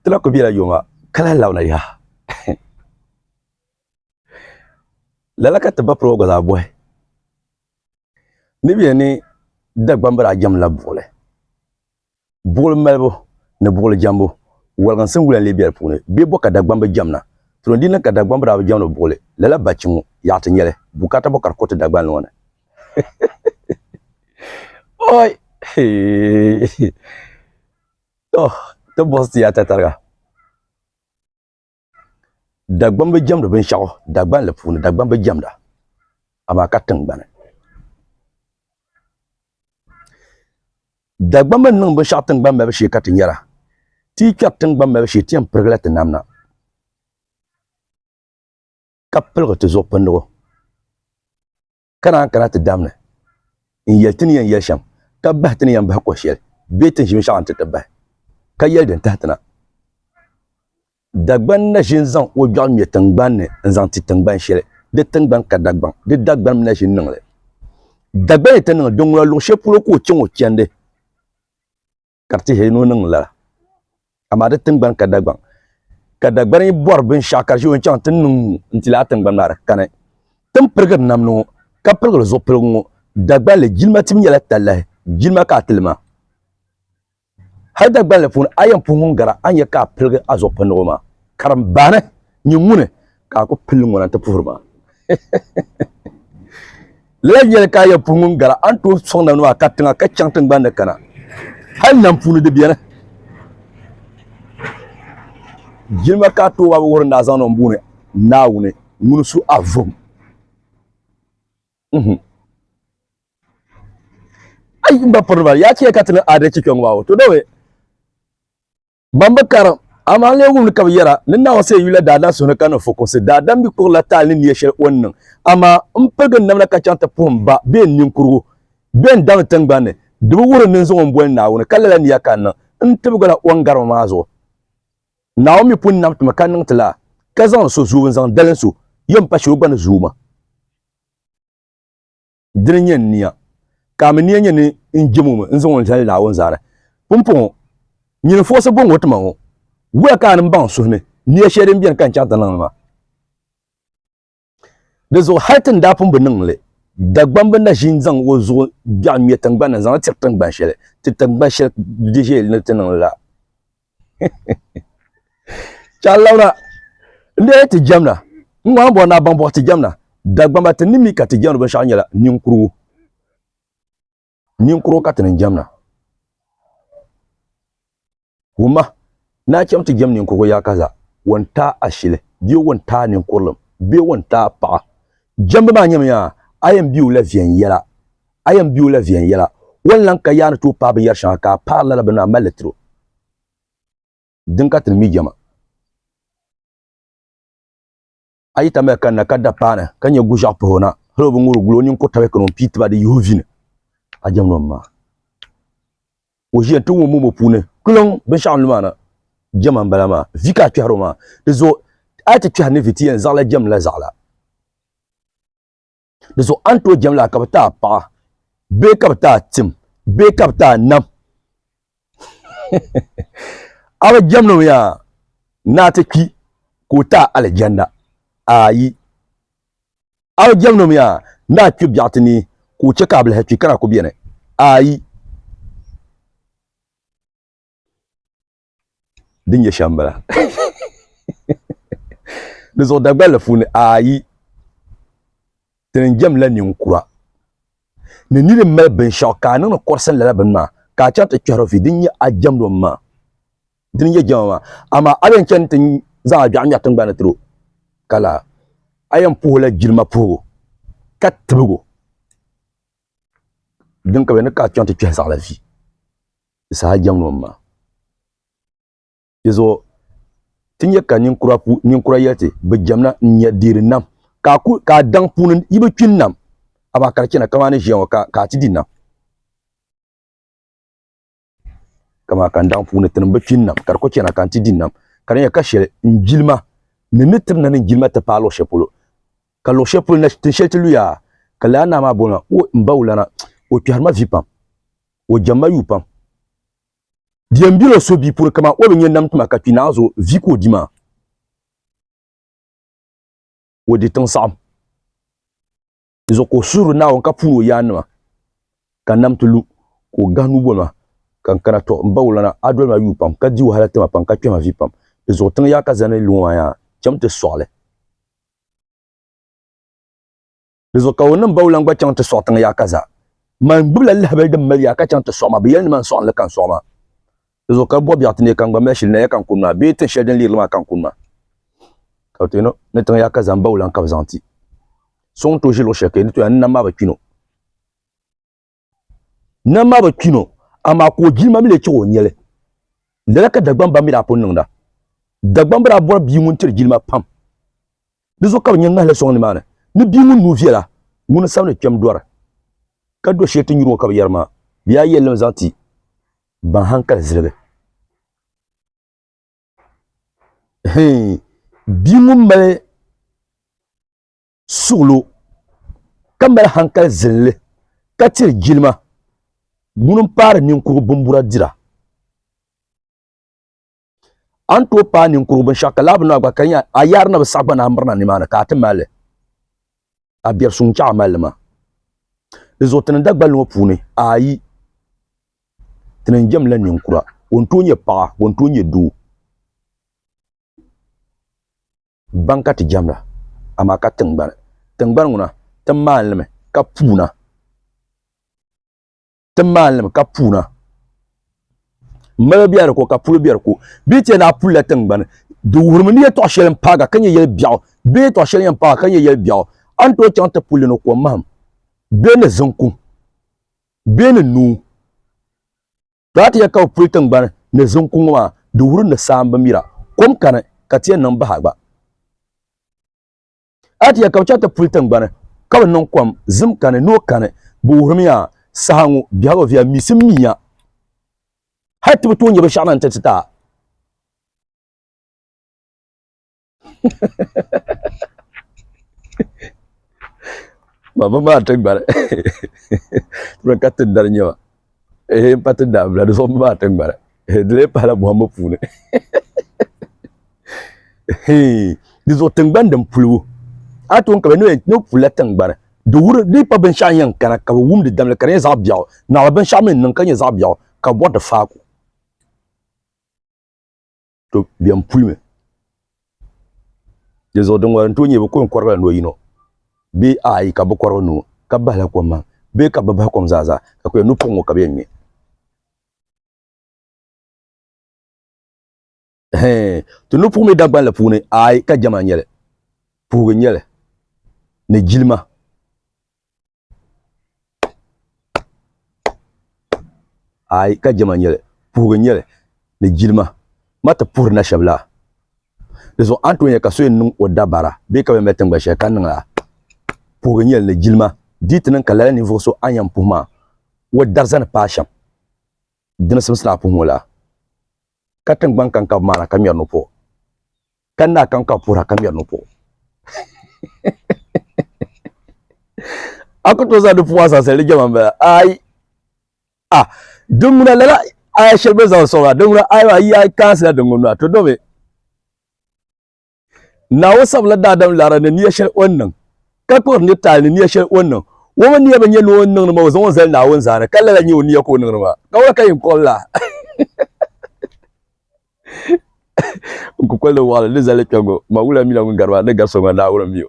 ti la ku bela yoma ka lahi labina yaha lala ka ti ba piri o gba zaa bɔhi ni bɛ yɛn ni Dagbambira jɛmla buɣili. Buɣili malibu ni buɣili jɛmbu waliginsi n-wula n-lee be di puuni. Bɛ bo ka Dagbamba bi jɛmna. Tiro n-di niŋ ka Dagbamba daa bi jɛmdi o buɣili, lala bachi ŋɔ yaɣa ti nya li, bukaata bo ka di kuriti Dagbani ŋɔ ni? Oi! Hee! Tɔ! Ti buɣisi ti ya tatariga. dagbam bi jɛmdi binshaɣu dagban li puuni dagbam bi jɛmda amaa ka tingbani dagbam bi niŋ binshaɣu tingbani malibu shee ka ti nyɛra ti yi kpɛri tingbani malibu shee ti yɛn pirigila ti namna ka piligi ti zuɣupindigu ka naan kana ti dam ni n yɛli ti ni yɛn yɛli shɛm ka bahi ti ni yɛn bahi kɔh shɛli bee tin ʒiminshaɣu n ti ti bahi ka yɛli din tahi ti na. Dagbaŋ na ʒin zaŋ o gbɛɣu ŋmɛ tiŋgbani ni n zaŋ ti tiŋgban shɛli di tiŋgbani ka Dagbaŋ di Dagbanim na ʒin niŋli. Dagbaŋ ni ti niŋ di ŋuna luɣ shɛli polo ka o chaŋ o chɛndi. ka di tihiri ni o niŋ lala amaa di tingbani ka dagbaŋ ka dagbani bɔri binshaɣu ka di ʒɛ o ni chaŋ ti niŋ n ti laa tingbani maa di kani tin pirigiri namdi ŋɔ ka pirigiri zuɣupiligu ŋɔ dagbanli jilima tibu nyɛla talahi jilima ka a tili maa hali dagbanli puuni a yɛn puhi ŋun gara a ni yɛ ka a piligi a zuɣupindigu maa karimbaani nyɛ ŋuni ka a ku pili ŋuna nti puhiri ma. Lala n-nyɛli ka a yɛn puhi ŋun gari a ni tooi sɔŋ na nuu a ka tiŋa ka chaŋ tiŋgbani ni kana. Hal nam puuni di beni. Jilima ka a tooi wabi wuhiri ni a zaŋdi o ni booni Naawuni ŋuni su a vom. Ai, m ba piriniba, yaa chɛ ya ka ti niŋ aadalichi kpɛŋɔ maa o? Tɔ, Dawɛ! Ban bi karim, amaa lee wumli ka bɛ yɛra, Ni Naawuni sal yula daadam suhuni ka niŋ fukumsi, daadam mi kurila taali ni niya shɛli o ni niŋ. Amaa m piligi n namda ka chaŋ ti puhi m ba bee n ninkurugu bee n daŋdi tiŋgbani ni, di bi wuhiri ni n zaŋ o m-boli Naawuni, ka lala niya ka n niŋ, n tibigi la o n gari ma maa zuɣu. Naawuni mi pun nam ti ma ka niŋ ti laa, ka zaŋdi so zuubu n-zaŋ dalim so, yom pa shee o gba ni zuui ma. dini n-nyɛ n nia, ka a mi nia nyɛ ni n jem o mi n-zaŋ o zali Naawuni zaani. Pumpɔŋɔ, nyini fuɣisi bɔŋɔ ti ma ŋɔ, wuhiya ka a ni baŋ suhimi nia shɛli din beni ka n chaŋ ti niŋ li maa. Di zuɣu hal ti ni daa pun bi niŋ li, Dagbam bi na ʒi n-zaŋ o zuɣu biɛɣu ŋme tiŋgbani ni n-zaŋ li tiri tiŋgban shɛli ti tiŋgban shɛli di ʒiɛyili ni ti niŋ li la. Chalawna n-dee ti jɛmna ŋɔŋ bɔri na baŋ bɔhi ti jɛmna Dagbamba ti ni mi ka ti jɛmdi binshɛɣu nyɛla ninkurigu ninkurigu ka ti ni jɛmna wumma naa chɛm ti jɛm ninkurigu yaa ka za wɔn taai ashili bee wɔn taai ninkurilim bee wɔn taai paɣa jɛmbu maa nyɛmi yaa a yɛn biu la viɛnyɛla A yɛn be o la viɛnyɛla, o ni lan ka yaa ni tooi paai binyɛr shɛŋa ka a paari lala bini a mal li tir o. Din ka ti ni mi jɛma. A yi tamya kanna ka da paana ka nya guʒiɛɣu pahi o na, hal o bi ŋuri gul o ninkur tabiya kani o ni pii ti ba di yihi o vi ni, a jɛmdi o mma. O ʒiya n-ti ŋun mum o puuni kpiɔŋ binshɛɣu n-lu maa na. Jɛma m-bala maa. Vi ka a kpɛhiri o maa. Di zuɣu a yi ti kpɛhiri ni vi ti yɛn zaɣila jɛmdila zaɣila. di zuɣu a ni tooi jɛm laa ka bi ti a paɣa bee ka bi ti a tim bee ka bi ti a nam a bi jɛmdi mi yaa ni a ti kpi ka o ti a alijanna ayi a bi jɛmdi mi yaa ni a kpi biɛɣu ti ni ka o chɛ ka a bilihi kpi ka na ku beni ayi din nyɛ shɛm bala di zuɣu dagballi puuni ayi ti ni jɛmla ninkura ni nini mali binshaɣu ka a niŋdi kɔrisi lala bini maa ka a chaŋ ti kpɛhiri fi din nyɛ a jɛmdi o maa din nyɛ jɛma maa amaa a yɛn chani ti zaŋ a dɔɣu ŋmɛri tingbani tiro ka la a yɛn puhila jilima puhigu ka tibigu din ka bɛ ni ka a chaŋ ti kpɛhi zaɣila fi di saha jɛm ni o ma. Dizuɣu ti nya ka ninkura yɛli ti, Bɛ jɛmna n-nya deeri nam, ka a daŋ puuni yi bi kpi n-nam, amaa ka di chana kaman ni ʒiya ŋɔ ka a ti di nam. Ka di nya ka shɛli n-jilima ni ni tiri nani n-jilima ti paai luɣ shɛli polo, ka luɣ shɛli polo na tin shɛli ti luya, ka lala naa maa bol ma, O, m ba wulana, o kpɛhiri ma vi pam. o jɛm ma yuu pam. Di yɛn biri o suhu bia puri kaman o bi nyɛ nam tuma ka kpi naanzu o vi ka o di maa. O di tiŋ saɣim. Di zuɣu ka o suhiri Naawuni ka puuni o yaannima ka nam ti lu ka o gahi nuuboli maa ka n kana tɔ m-ba o lana a doli ma yuu pam ka di wahala ti ma pam ka kpɛhi ma vi pam. Di zuɣu tiŋ yaa ka zani lu ŋɔ maa yaa cham ti sɔɣi li. Di zuɣu ka o niŋ bawulaŋ gba chaŋ ti sɔɣi tiŋ yaa ka zaa. Man gbibila lahabali din mali yaa ka chaŋ ti sɔɣi ma, bɛ yɛli ni man sɔɣi ni li ka n sɔɣi ma. Di zuɣu ka bɔbiɛɣu ti neei ka n gba mali shili naya ka n kuni ma, bee tin shɛli din leeri li maa ka n kuni ma. Ka bɛ ti yɛn o ni tiŋ yaa ka zaa m-bawulaŋ ka bɛ zaŋ ti so ŋun tooi ʒi luɣ shɛli ka yi ni tooi a ni nam maa bi kpi ni o. Nam maa bi kpi no, amaa ka o jilima mi lee chihi o nyɛli. Lala ka Dagbaŋ ba mi daa pun niŋda. Dagbaŋ bi daa bɔri bia ŋun tiri jilima pam. Di zuɣu ka bɛ nya ŋahili sɔŋ nimaani ni bia ŋun nuu viɛla, ŋuni sabinli kpɛm dɔri ka do shiri ti nyuri ŋɔ ka bɛ yɛri maa, Bɛ yaa yɛllim zaŋ ti ban hankali ziligi. Hii, bia ŋun mali suɣilo ka mali hankali zilli ka tiri jilima ŋuni m-paari ninkurigu bimbura dira a ni tooi paai ninkurigu binshɛɣu ka laa bi naai gba ka di nyɛla a yaari ni bi saɣi gba ni a mirina nimaani ka a ti mali li a biɛri suŋ n-chaɣ a mali li maa di zuɣu ti ni Dagbali ŋɔ puuni ayi ti ni jɛmla ninkura o ni tooi nyɛ paɣa o ni tooi nyɛ doo Baŋ ka ti jɛmla, amaa ka tiŋgbani, tiŋgbani ŋuna, ti maani li mi ka puuna, ti maani li mi ka puuna. Malo be di ko ka pulo be di ko. Bɛ ni ti yɛli ni a pulila tiŋgbani, di wuhirimi ni yɛltɔɣ shɛli m-paaga ka nyɛ yɛl biɛɣu bee yɛltɔɣ shɛli yɛn paaga ka nyɛ yɛl biɛɣu, a ni tooi chaŋ ti pul li ni ko mahim bee ni ziŋ kuŋ bee ni nuu. Daa ti yɛli ka bɛ puli tiŋgbani ni ziŋ kuŋ ŋɔ maa, di wuri ni saa m-bi mira. Kom kani, ka ti yɛn niŋ bahi gba. A ti yɛli ka bɛ chaŋ ti puli tiŋgbani, ka bɛ niŋ kom, zim kani, noo kani, bɛ wuhirimiya saha ŋɔ biɛhigu viɛl misim mi ya. Hal ti bi tooi nya binshɛɣu na nti ti ti a. baba maa ti gbari tuma ka ti dari nyɛma ehe n pa ti daa bila di zuɣu maa ti gbari ehe di lee pahala bɔhimbu puuni hee di zuɣu tingbani din pulibu a tun ka bɛ ni ni pula tingbani di wuri di pa binshɛɣu yɛn kana ka bi wumdi damli ka di nyɛ zaɣ biɛɣu naɣila binshɛɣu mi niŋ ka nyɛ zaɣ biɛɣu ka bɔri di faaku to bɛn pulimi di zuɣu din ŋɔri n tooi nyɛ bi ko n kɔrigila noo yino bee ayi ka bi kɔrigi nuu ka bahila kom maa bee ka bi bahi kom zaa zaa ka kuli nu pɔŋ ŋɔ ka bi yɛn ŋmɛ ti ni puhi mi dagbanli puuni ayi ka jɛma n nyɛli puhigu n nyɛli ni jilima Aai ka jɛma n-nyɛli puhigu n-nyɛli ni jilima ma ti puhiri na shɛba la di zuɣu a ni tooi nya ka so yɛn niŋ o dabara bee ka bɛn mali tiŋgba shɛli ka niŋ a puhigu n-nyɛli ni jilima di yi ti niŋ ka lala ninvuɣu so a ni yɛn puhi maa o dari zani paai shɛm dini simsi ni a puhi ŋɔ la ka tiŋgbani kankab maa na ka ŋmɛri ni o puhi o. ka ni daa kan ka puhira ka ŋmɛri ni puɣu a ku tooi zaŋ di puɣu a zaŋsali di jɛma n bala ayi a diŋuna lala aya shɛli bɛ zaŋ soŋ a diŋuna ayi maa yi a kaasila diŋuni maa to domi naawo sabila daadam lara ni niya shɛli o ni niŋ ka kpuɣiri ni taali ni niya shɛli o ni niŋ wo mi niya bi nyɛ ni o ni niŋdi maa o zaŋ o zali naawuni zaani ka lala nyɛ o niya ka o niŋdi maa ka wala ka yɛn kɔri la n kukol ni wɔɣili ni zali kpe ŋɔ, Mawula mi la ŋun gari ba ni gari so ŋɔ Naawuni mi o.